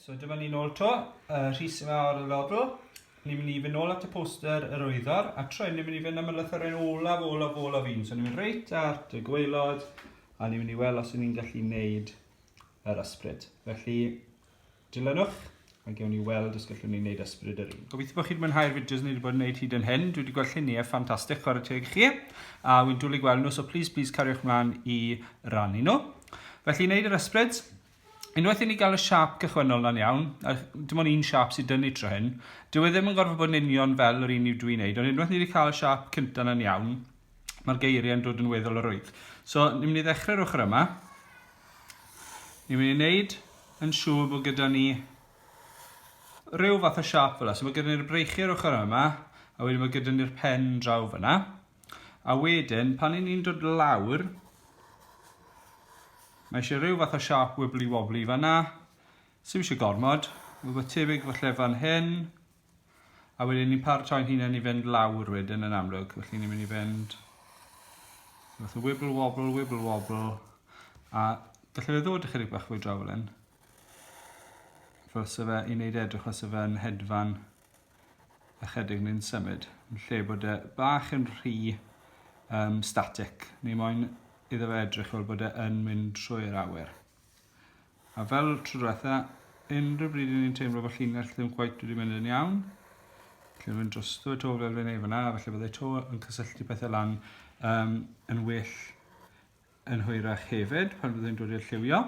So dyma ni nôl to, uh, Rhys yma ar y lodl. Ni'n mynd i fynd nôl at y poster yr oeddor, a tro ni'n mynd i fynd am y lythyrau olaf, olaf, olaf un. So ni'n mynd reit at y gweilod, a ni'n mynd i weld os ni'n gallu wneud yr ysbryd. Felly, Dilynwch a gewn ni weld os gallwn ni wneud ysbryd yr un. Gobeithio bod chi wedi mwynhau'r fideos ni wedi bod yn gwneud hyd yn hyn. Dwi wedi gweld lluniau ffantastig chwarae teg chi. A wy'n dwlu gweld nhw, so please, please cariwch mlaen i rannu nhw. Felly, wneud yr ysbryd. Unwaith i ni gael y siap cychwynnol na'n iawn, a dim ond un siap sydd dynnu tro hyn, dyw e ddim yn gorfod bod yn union fel yr un i'w dwi'n neud, ond unwaith ni wedi cael y siap cyntaf na'n iawn, mae'r geiriau'n dod yn weddol o rwydd. So, ni'n mynd i ddechrau'r ochr yma. Ni'n mynd i wneud yn siŵr bod gyda ni rhyw fath o siap fel yna. So mae gyda ni'r breichiau ar ochr yma, a wedyn mae gyda ni'r pen draw fyna. A wedyn, pan ni'n dod lawr, mae eisiau rhyw fath o siap wibbly wobbly fanna. Sym eisiau gormod. Mae tebyg falle fan hyn. A wedyn ni'n paratoi'n hunain i fynd lawr wedyn yn amlwg. Felly ni'n mynd i fynd fath o wibble wobble, wibble wobble. A gallai fe ddod ychydig bach fwy draw fel hyn. Fel se fe i wneud edrych fel se fe'n hedfan ychydig ni'n symud. Yn lle bod e bach yn rhy um, static. Ni moyn iddo fe edrych fel bod e yn mynd trwy'r awyr. A fel tro diwetha, unrhyw bryd i ni'n teimlo bod llinell ddim cweit wedi mynd yn iawn, lle rwy'n drosto y to fel fe neu fyna, felly byddai to yn cysylltu pethau lan um, yn well yn hwyrach hefyd pan fyddai'n dod i'r lliwio.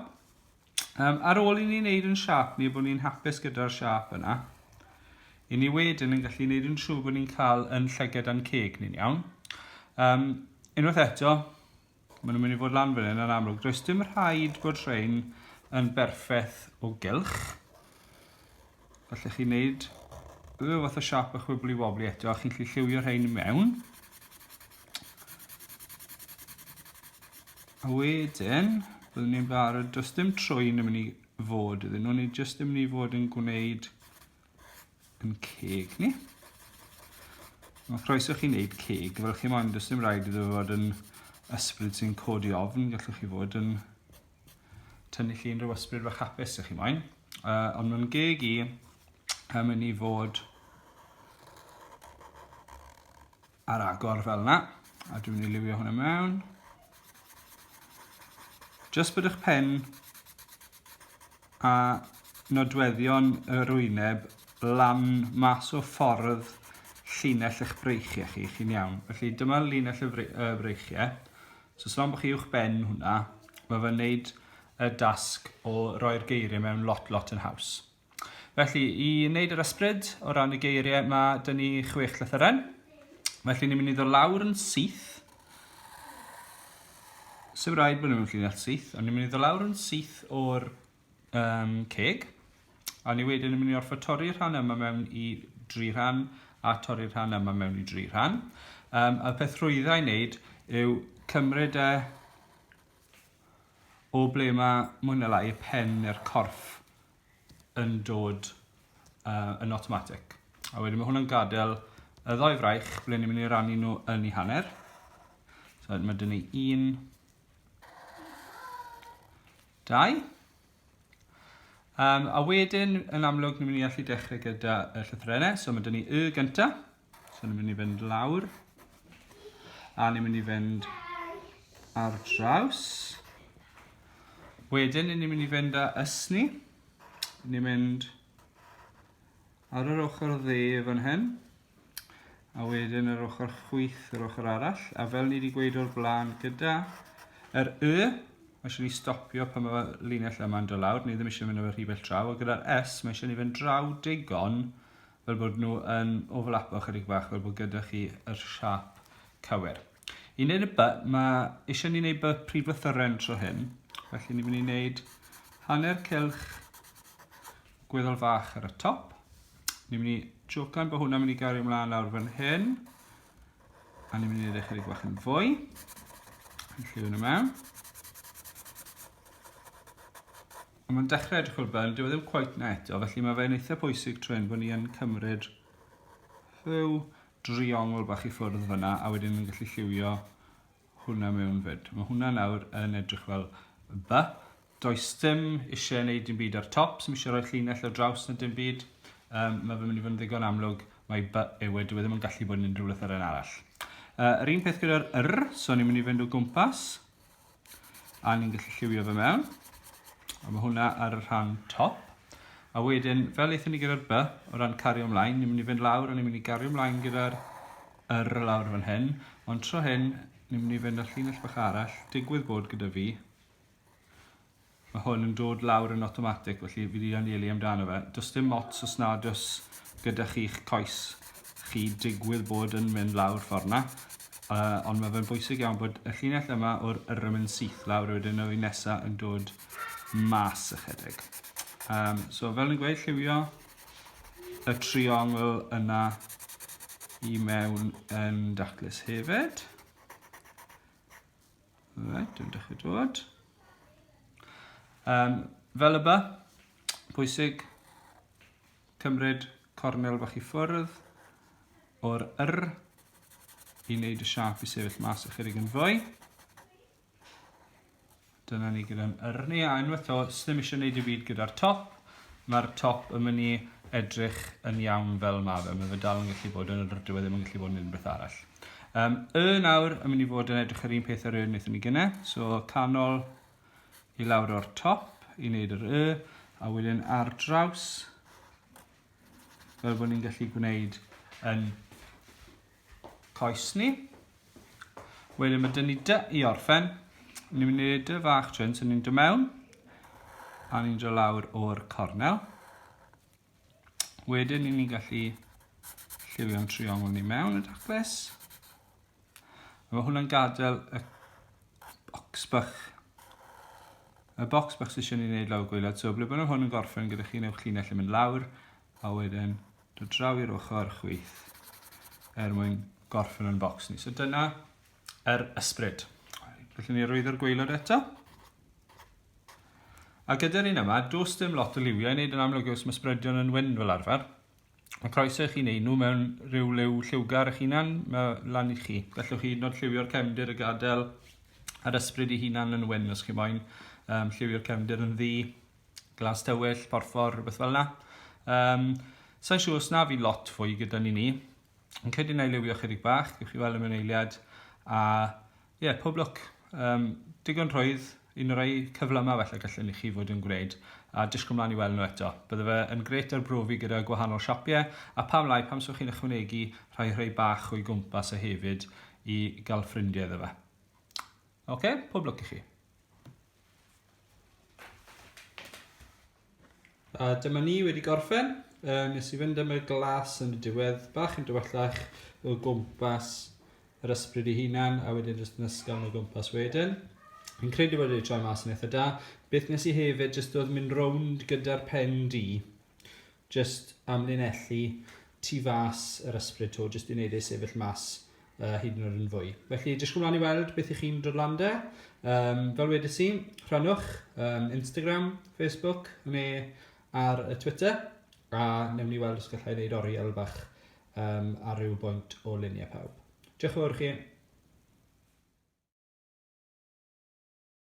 Um, ar ôl i ni wneud yn siap ni bod ni'n hapus gyda'r siap yna, i ni wedyn yn gallu wneud yn siŵr bod ni'n cael yn llyged a'n ceg ni'n iawn. Um, unwaith eto, Maen nhw'n mynd i fod lan fan hyn yn amlwg. Does dim rhaid bod rhain yn berffaith o gylch. Felly chi'n neud rhyw fath o siap bach wibli wobli eto, a chi'n gallu lliwio rhain i mewn. A wedyn, byddwn ni'n barod, does dim trwy'n yn mynd i fod iddyn nhw, ni jyst yn mynd i fod yn gwneud yn ceg ni. Mae croeso chi wneud ceg fel chi moyn, does dim rhaid iddo fod yn ysbryd sy'n codi ofn, gallwch chi fod yn tynnu chi unrhyw ysbryd fach hapus ych chi moyn. Uh, ond mae'n geg i am yn i fod ar agor fel yna. A dwi'n mynd i liwio hwnna mewn. Just bod eich pen a nodweddion y rwyneb lan mas o ffordd llinell eich breichiau chi, chi'n iawn. Felly dyma llinell y breichiau. So slan bod chi uwch ben hwnna, mae fe'n neud y dasg o roi'r geiriau mewn lot, lot yn haws. Felly, i wneud yr ysbryd o ran y geiriau, mae dyn ni chwech llythyren. Felly, ni'n mynd i ddod lawr yn syth. Sef rhaid bod nhw'n llinell syth, ond ni'n mynd i ddod lawr yn syth o'r um, ceg. A ni wedyn yn mynd i orfod torri'r rhan yma mewn i dri rhan a torri'r rhan yma mewn i dri rhan. Um, a peth rhwyddau i wneud yw cymryd e O ble mae mwy na lai y pen neu'r corff yn dod uh, yn automatic. A wedyn mae hwnna'n gadael y ddoi fraich ble ni'n mynd i rannu nhw yn ei hanner. So mae dyn ni un, dau. Um, a wedyn, yn amlwg, ni'n mynd i allu dechrau gyda y llythrenau. So mae dyn ni y gyntaf. So ni'n mynd i fynd lawr. A ni'n mynd i fynd ar draws. Wedyn ni'n mynd i fynd â ysni. Ni'n mynd ar yr ochr dde fan hyn. A wedyn yr ochr chwyth yr ochr arall. A fel ni wedi gweud o'r blaen gyda yr Y, mae eisiau ni stopio pan mae linell yma'n dod lawr. Ni ddim eisiau mynd o'r rhy bell draw. A gyda'r S, mae eisiau ni fynd draw digon fel bod nhw yn overlapo chydig bach, fel bod gyda chi yr siap cywir. I wneud y by, mae eisiau ni wneud by prif lythyren tro hyn, felly ni'n mynd i wneud hanner cylch gweddol fach ar y top. Ni'n mynd i jocan bod hwnna'n mynd i gario ymlaen lawr fan hyn, a ni'n mynd i wneud eich chydig bach yn fwy. Felly hwnna mewn. Ond mae'n dechrau edrych fel bel, dyw e ddim cweit na eto, felly mae fe'n eitha pwysig trwy hyn bod ni yn cymryd rhyw driongl bach i ffwrdd fyna a wedyn yn gallu lliwio hwnna mewn fyd. Mae hwnna nawr yn edrych fel by. Does dim eisiau wneud dim byd ar top, sy'n eisiau rhoi llinell o draws na dim byd. Um, mae fe'n mynd i fod yn ddigon amlwg, mae by ewe, dwi e ddim yn gallu bod yn unrhyw beth ar un arall. Uh, yr un peth gyda'r yr, so ni'n mynd i fynd o gwmpas. A ni'n gallu lliwio fe mewn. A mae hwnna ar y rhan top. A wedyn, fel eithon ni gyda'r by, o ran cario ymlaen, ni'n mynd i fynd lawr a ni'n mynd i gario ymlaen gyda'r yr lawr fan hyn. Ond tro hyn, ni'n mynd i fynd â llinell bach arall, digwydd bod gyda fi, Mae hwn yn dod lawr yn awtomatig, felly fi 'di anelu amdano fe. Does dim ots os nad oes gyda chi'ch coes chi digwydd bod yn mynd lawr ffordd 'na, uh, ond mae fe'n bwysig iawn bod y llinell yma o'r yrym yn syth lawr a wedyn y nesa yn dod mas ychydig. Um, so fel yn gweud, lliwio y triongl yna i mewn yn daclus hefyd. Right, dwi'n dechrau dod. Um, fel y ba, pwysig, cymryd cornel fach i ffwrdd o'r yr i wneud y siap i sefyll mas ychydig yn fwy. Dyna ni gyda'n yr ni, a unwaith o, ddim eisiau gwneud i byd gyda'r top. Mae'r top yn mynd i edrych yn iawn fel mae fe. Mae fe dal yn gallu bod yn yr diwedd ddim yn gallu bod yn unrhyw beth arall. Um, y nawr yn mynd i fod yn edrych yr un peth ar y wnaethon ni gyne. So canol i lawr o'r top i wneud yr y, a wedyn ar draws, fel bod ni'n gallu gwneud yn coes ni. Wedyn mae dyn ni dy i orffen. Ni'n mynd i wneud dy fach trwy'n sy'n ni'n dy mewn, a ni'n dy lawr o'r cornel. Wedyn ni'n ni'n gallu lliwio'n triongl ni mewn y dacles. Mae hwnna'n gadael y bocs bach y bocs bach sydd eisiau ni wneud lawr gwylad. So, ble bynnag hwn yn gorffen gyda chi, newch llinell yn mynd lawr, a wedyn dod draw i'r ochr chwith er mwyn gorffen yn bocs ni. So dyna yr ysbryd. Felly ni rwydd o'r gweilod eto. A gyda'r un yma, does dim lot o liwiau i wneud yn amlwg yw smysbredion yn wyn fel arfer. Mae croeso i chi wneud nhw mewn rhyw liw lliwgar eich hunan, mae lan i chi. Gallwch chi hyd yn oed lliwio'r cefndir y gadael a'r ysbryd i hunan yn wyn os chi moyn. Um, lliwio'r cefndir yn ddi, glas tywyll, porffor, rhywbeth fel yna. Um, Sa'n siŵr os na fi lot fwy gyda ni ni. Yn credu na i liwio chydig bach, gwych chi weld y mewn eiliad, a Ie, yeah, pob lwc. Um, digon rhwydd, un o'r ei cyflymau felly gallwn i chi fod yn gwneud, a disgwyl mlaen i weld nhw eto. Bydde fe yn gret arbrofi gyda gwahanol siapiau, a pam lai, pam sych chi'n ychwanegu rhai rhai bach o'i gwmpas e hefyd i gael ffrindiau iddo fe. Oce, okay, pob lwc i chi. A dyma ni wedi gorffen. Uh, nes i fynd am y glas yn y diwedd, bach yn dywyllach o gwmpas yr ysbryd i hunan, a wedyn jyst yn ysgafn o gwmpas wedyn. Yn credu bod wedi troi mas yn eitha da. Beth nes i hefyd, jyst oedd mynd rownd gyda'r pen di, jyst amlinellu tu fas yr ysbryd to, jyst i wneud ei sefyll mas uh, hyd yn oed yn fwy. Felly, disgwyl mlaen i weld beth i chi'n dod lan de. Um, fel wedi si, rhannwch um, Instagram, Facebook, neu ar y Twitter, a newn ni weld os gallai wneud oriel bach um, ar ryw bwynt o luniau pawb. Diolch yn fawr chi.